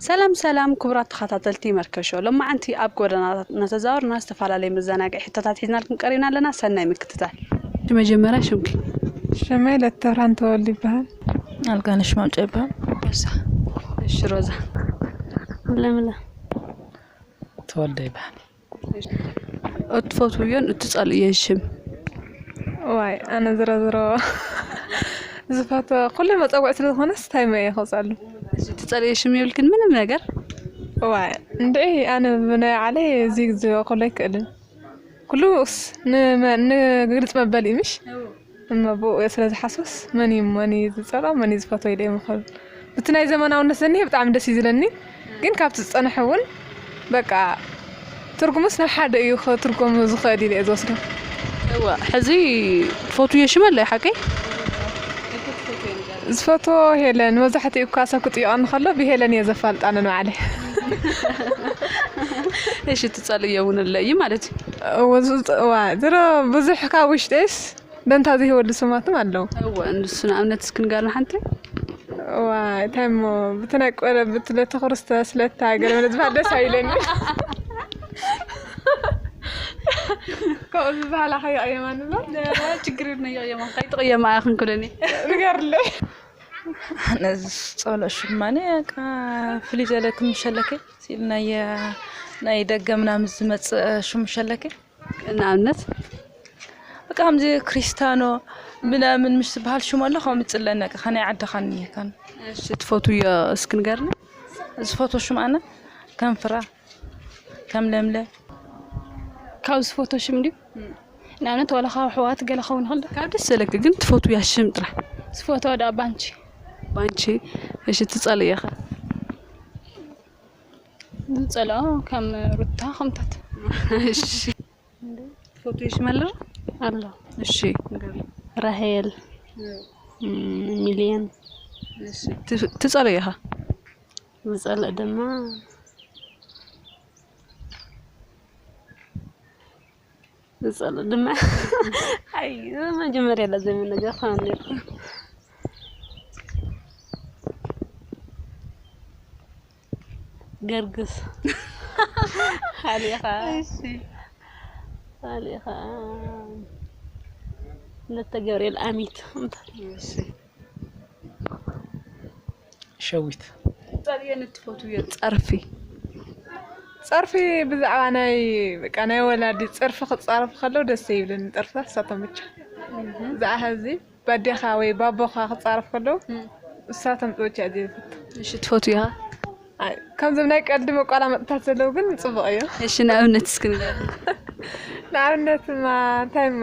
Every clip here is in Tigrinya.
ሰላም ሰላም ኩቡራት ተኻታተልቲ መርከሾ ሎማዓንቲ ኣብ ጎደናታት እናተዛወርና ዝተፋላለዩ መዛናግዒ ሕቶታት ሒዝናልኩም ቀሪብና ኣለና ሰናይ ምክትታል። ብመጀመርያ ሽምኪ? ሽመይ ለተብርሃን ተወልደ ይበሃል። ኣልጋነሽ ማንጮ ይበሃል። ሮዛ እሺ ሮዛ። ለምለም ተወልደ ይበሃል። እትፈትውዮን እትፀልእዮን ሽም? እዋይ ኣነ ዝሮዝሮ ዝፈትዎ ኩሎም መፀውዒ ስለዝኾነ ስታይ እየ ክፀሉ። እሺ እትፀልእዮ ሽም የብልክን ምንም ነገር? እዋይ እንድዒ ኣነ ብናይ ባዕለይ እዚ ክብሎ ኣይክእልን ኩሉ ንግልፂ መበሊ እዩ ምሽ? እሞ ብእኡ ስለ ዝሓስብስ መን እዩ መን እዩ ዝጸልኦ መን እዩ ዝፈትዎ ኢለ ኣይምኽርን። ብቲ ናይ ዘመናውነት ዝኒሀ ብጣዕሚ ደስ እዩ ዝለኒ ግን ካብቲ ዝጸንሐ እውን በቃ ትርጉሙስ ናብ ሓደ እዩ ክትርጎም ዝኽእል ኢለ እየ ዝወስዶ። እወ ሕዚ ትፈትውዮ ሽመል ዶ ሓቀይ? ዝፈትዎ ሄለን መብዛሕትኡ እኳ ሰብ ክጥይቐኒ ከሎ ብሄለን እየ ዘፋልጣ ነንባዕለይ። እሺ ጸልየ ውን እለይ ማለት እዩ። እወ ዝውጽእ እዋይ ድሮ ብዙሕ ካብ ውሽጢስ ደንታ ዘይህበሉ ስማትም ኣለው። እወ ንሱ ንኣብነት እስኪ ንገርና ሓንቲ። እዋይ እንታይ እሞ ብቲ ናይ ቆረብት ለተ ክርስቶስ ለተ ሃገረ ምለ ዝበሃል ደስ ኣይለኒ ከምኡ ዝበሃል ኣኸ ይቕየማ ንብሎ ችግር የብለይ ይቕየማ ከይትቕየማ እያ ክንኩለኒ ንገርለይ። ኣነ ዝጸልኦ ሽማኔ በቃ ፍልይ ዝበለ ክምሸለከይ ሲል ናይ ናይ ደገ ምናምን ዝመፅእ ሹም ሸለኪ ንኣብነት በቃ ከምዚ ክሪስታኖ ምናምን ምሽ ዝበሃል ሽሙ ኣሎ ከምኡ ይፅለኒ በቃ ከናይ ዓድኻ እኒሄካን እሺ ትፈትውዮ እስኪ ንገርኒ ዝፈትዎ ሽም ኣነ ከም ፍራ ከም ለምለ ካብ ዝፈትዎ ሽም ድዩ ንኣብነት ዋላ ካብ ኣሕዋት ገለ ክኸውን ይኽእል ዶ? ካብ ደስ ዘለኪ ግን ትፈትውያ ሽም ጥራሕ። ዝፈትዋ ድኣ ባንቺ። ባንቺ እሺ ትጸልእያ ከ? ዝጸልኦ ከም ሩታ ከምታት። እሺ ትፈትውዮ ሽም ኣሎ ዶ? ኣሎ እሺ ንገርና። ራሄል ሚልዮን። እሺ ትጸልእያ ከ? ዝጸልእ ድማ ንፀሉ ድማ ኣይ መጀመርያ ላ ዘይምነገር ኳን ነርኩ ገርግስ ሓሊኻ ሓሊኻ ነተ ገብርኤል ኣሚት እንታይ ሸዊት ጸልየን እትፈትውዮ ጸርፊ ጸርፊ ብዛዕባ ናይ በቃ ናይ ወላዲ ጸርፊ ክጻረፉ ከለው ደስ ይብልን ጥርፍታት እሳቶም ብቻ ብዛዕባ ሕዚ ባዴኻ ወይ ባቦኻ ክጻረፉ ከለው እሳቶም ብቻ እዩ ዘይፍቱ እሺ ትፈትውያ ኣይ፣ ከምዞም ናይ ቀልዲ መቋላመጥታት ዘለው ግን ጽቡቕ እዩ እሺ ንኣብነት እስኪ ንገር ንኣብነትማ እንታይ እሞ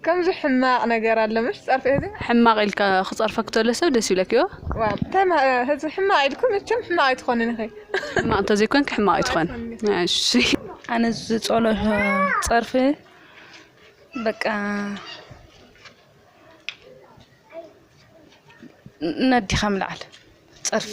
ከምዚ ሕማቅ ነገር ኣሎ ምሽ ጸርፊ ህዝቢ። ሕማቅ ኢልካ ክጸርፈክ ተሎ ሰብ ደስ ይብለክ እዮ። ዋው ተማ ህዝቢ ሕማቅ ኢልኩም መቸም ሕማቅ ኣይትኾንን ኢኺ። ሕማቅ እንተዘይኮንኪ ሕማቅ ኣይትኾን እሺ። ኣነ ዝጸሎ ጸርፊ በቃ ነዲኻ ምልዓል ጸርፊ።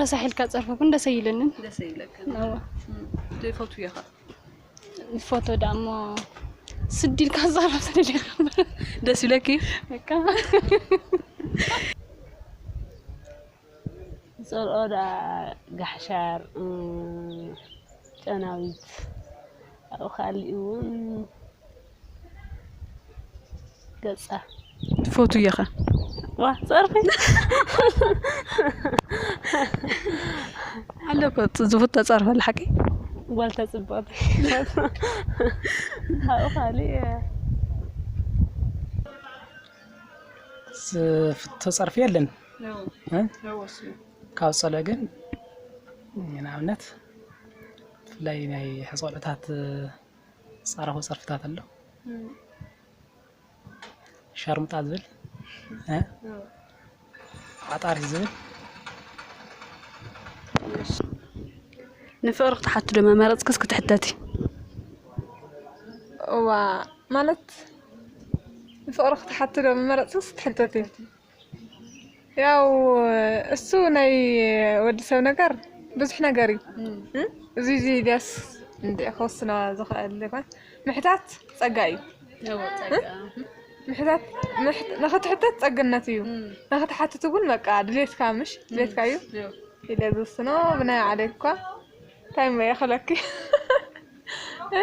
ረሳሕ ኢልካ ፀርፊ ግን ደስ ኣይብለንን ደስ ኣይብለክን እወ ዘይፈትውዮ ከ ንፎቶ ደኣ እሞ ስዲ ኢልካ ዝፀርፍ ስለደካ ደስ ይብለኪ በቃ ዝፀልኦ ደኣ ጋሕሻር እም፣ ጨናዊት ኣብኡ ካሊእ እውን ገጻ ትፈትውዮ ከ ዋ ጸርፊ ኣሎ እኮ ዝፍቶ ጸርፊ ኣላ ሓቂ ጓል ተጽብቕ ካብኡ ካልእ ዝፍቶ ጸርፊ የለን እ? ካብ ጸለ ግን ንኣብነት ብፍላይ ናይ ሕጾለታት ዝፀረፎ ፀርፍታት ኣሎ ሻርሙጣ ዝብል ዓጣር ዝብል ንፍቅሪ ክትሓቲ ዶ መመረፅክስ ክትሕተቲ እዋ ማለት ንፍቅሪ ክትሓቲ ዶ መመረፅክስ ክትሕተቲ ያው እሱ ናይ ወዲ ሰብ ነገር ብዙሕ ነገር እዩ እ? እዚ እዚ ድያስ እንደ ክወስና ዝኽእል ይኾን ምሕታት ፀጋ እዩ እዎ ጸጋ ምሕታት ምሕ- ንኽትሕተት ፀግነት እዩ ንኽትሓትት እውን በቃ ድሌትካ ምሽ ድሌትካ እዩ እዎ ኢለ ዝውስኖ ብናይ ባዕለይ እኳ እንታይ እሞ እየ ክብለኪ እ?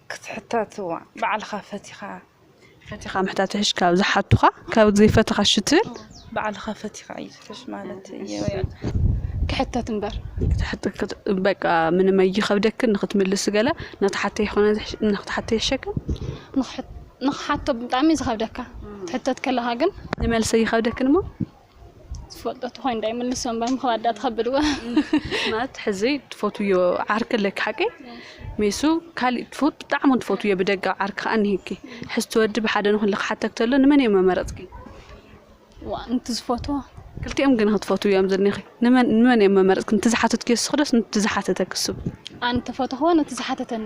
ክትሕተትዋ ባዕልኻ ፈቲኻ ፈቲኻ ምሕታት ይሕሽ ካብ ዝሓቱኻ ካብ ዘይፈትኻ ሽትብል ባዕልኻ ፈቲኻ እዩ ዝሕሽ ማለት እዩ ክሕተት እምበር በቃ ምንም ኣይኸብደክን ንክትምልስ ገለ ንክትሓተ ይኾነ ንክትሓተ ይሕሸክን ንክሓቶ ብጣዕሚ ዝኸብደካ ትሕተት ከለኻ ግን ንመልሰ ይኸብደክን እሞ ዝፈልጦ ተኮይኑ ዳይ ምልሶ እምበር ምክባዳ ተከብድዎ ማለት ሕዚ ትፈትውዮ ዓርኪ ኣለኪ ሓቂ ሜሱ ካሊእ ትፈት ብጣዕሚ ትፈትውዮ ብደጋ ዓርኪ ከዓ እኒሄኪ ሕዚ ትወዲ ብሓደ ንክን ክሓተክ ተሎ ንመን እዮም መመረፅኪ ንቲ ዝፈትዎ ክልቲኦም ግን ክትፈትው እዮም ዝኒኺ ንመን እዮም መመረፅኪ ንቲ ዝሓተትክዮ ስክደስ ንቲ ዝሓተተክ ሱብ ኣንተ ፈተኽዎ ነቲ ዝሓተተኒ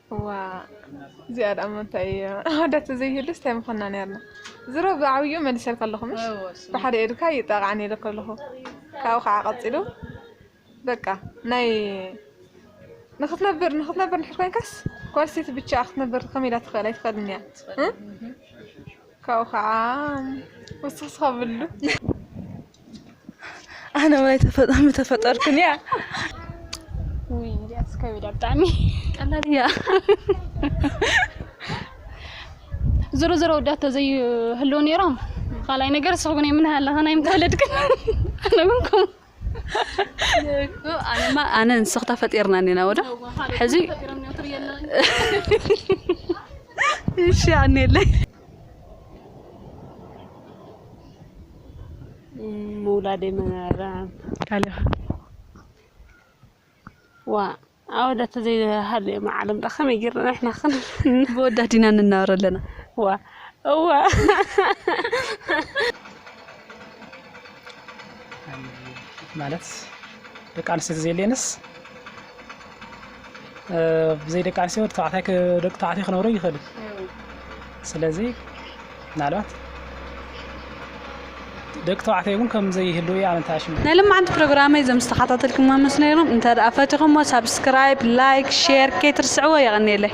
ዋእ እዚኣ ደኣ እሞ እንታይ እያ ኣወዳት ተዘይህሉስ ታይ ምኮና ኔርና ዝሮ ብዓብይኡ መሊሰልኪ ኣለኩ ምሽ ብሓደ ኢድካ ይጣቃዕን ኢለኪ ኣለኩ ካብኡ ከዓ ቀፂሉ በቃ ናይ ንክትነብር ንክትነብር እንድሕር ኮይንካስ ጓል ኣንስተይቲ ብቻኣ ክትነብር ከመይ ኢላ ትክእል ኣይትክእልን እያ እ? ካብኡ ከዓ ወስክስካ ብሉ ኣነ ወይ ተፈጣሚ ተፈጠርኩን እያ ውይ እዚኣስ ከቢዳ ብጣዕሚ ቀላል እያ ዝሮ ዝሮ ወዳት ተዘይህልው ነይሮም ካልኣይ ነገር ስኹግን የምንህ ኣለኸ ናይ ምተወለድክን ኣነ እውን ከምኡ ኣነማ ኣነ ንስኽ ተፈጢርና ኔና ወዶ ሕዚ እሺ ኣኔለይ ምውላደይ መራም ካሊኻ ዋ ኣወዳት ዘይሃልዮ መዓለም ዳ ከመይ ጌርና ንሕና ክን ብወዳት ኢና ንናበር ኣለና ዋ እዋ ማለት ደቂ ኣንስትዮ ተዘየለየንስ ብዘይ ደቂ ኣንስትዮ ወዲ ተባዕታይ ደቂ ተባዕትዮ ክነብሩ ይኽእሉ ስለዚ ምናልባት ደቂ ተባዕትዮ እውን ከም ዘይህሉ እያ ኣመንታሽ ናይ ልማዓንቲ ፕሮግራመይ እዞም ዝተኸታተልኩሞ ምስ ነይሮም እንተ ደኣ ፈቲኹሞ ሳብስክራይብ ላይክ ሼር ከይትርስዕዎ የቐንየለይ